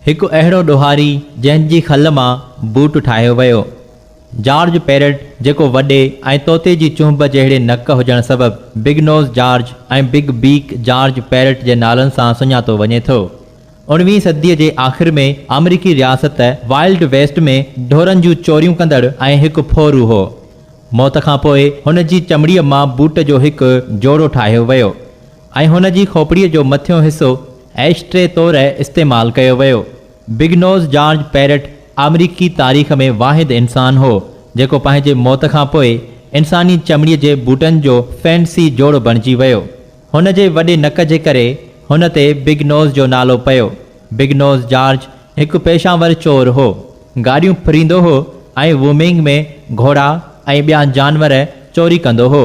هڪ اهڙو ڏوهاري جنهن جي کل مان بوٽ ٺاهيو ويو. جارج پيرٽ جيڪو وڏي ۽ طوطي جي چنهب جهڙي نڪ هجڻ سبب big nose George ۽ big beak George Parrott جي نالن سان سڃاتو وڃي ٿو. اڻويهين صديء جي آخر ۾ آمريڪي رياست وائلڊ ويسٽ ۾ ڍورن جون چوريون ڪندڙ ۽ هڪ ڦورو هو. موت کان پوء هن جي چمڙيء مان بوٽ جو هڪ جوڙو ٺاهيو ويو. ۽ هن جي کوپڙيء جو مٿيون حصو ايش ٽري طور استعمال ڪيو ويو. بگ نوز جارج پيرٽ آمريڪي تاريخ ۾ واحد انسان هو، جيڪو پنهنجي موت کان پوء انساني چمڙيء جي بوٽن جو فينسي جوڙو بڻجي ويو. هن جي وڏي نڪ جي ڪري هن تي بگ نوز جو نالو پيو. بگ نوز جارج هڪ پيشه ور چور هو. گاڏيون ڦريندو هو ۽ وومينگ ۾ گهوڙا ۽ ٻيا جانور چوري ڪندو هو.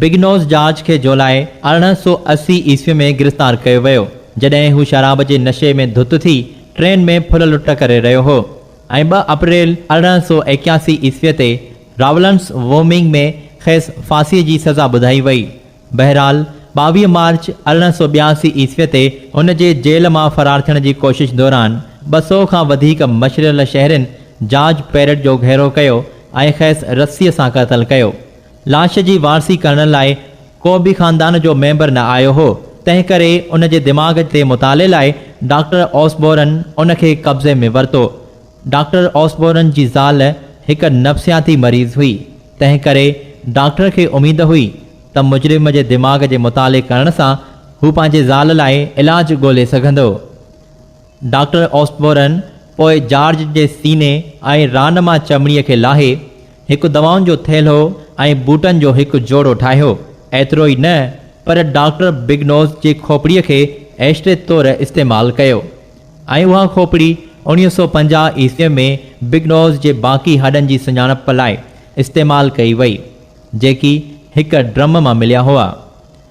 بگنوز جارج کي جولاء ارڙهن سؤ اسي عيسوي ۾ گرفتار ڪيو ويو، جڏهن هو شراب جي نشي ۾ ڌت ٿي ٽرين ۾ ڦل لٽ ڪري رهيو هو ۽ ٻه اپريل ارڙهن سؤ ايڪياسي عيسوي تي راولنس وومنگ ۾ کيس ڦاسيء جي سزا ٻڌائي وئي. بهرحال، ٻاويهه مارچ ارڙهن سؤ ٻياسي عيسوي تي هن جي جيل مان فرار ٿيڻ جي ڪوشش دوران ٻه سؤ کان وڌيڪ مشريل شهرين جارج پيرٽ جو گهيرو ڪيو ۽ کيس رسيء سان قتل ڪيو. لاش جي وارثي ڪرڻ لاء ڪو به خاندان جو ميمبر نه آيو هو، تنهنڪري ان جي دماغ تي مطالعي لاء ڊاڪٽر اوسبورن ان کي قبضي ۾ ورتو. ڊاڪٽر اوسبورن جي زال هڪ نفسياتي مريض هئي، تنهنڪري ڊاڪٽر کي اميد هئي ته مجرم جي دماغ جي مطالعي ڪرڻ سان هو پنهنجي زال لاء علاج ڳولي سگهندو. ڊاڪٽر اوسبورن پوء جارج جي سيني ۽ ران مان چمڙي کي لاهي، هڪ دوائن جو ٿيلهو ۽ بوٽن جو هڪ جوڙو ٺاهيو. ايترو ئي نه پر ڊاڪٽر بگنوز جي کوپڙيء کي ايشٽري طور استعمال ڪيو ۽ اها کوپڙي اوڻيهه سؤ پنجاهه عيسويء ۾ بگنوز جي باقي هڏن جي سڃاڻپ لاء استعمال ڪئي وئي، جيڪي هڪ ڊرم مان مليا هئا.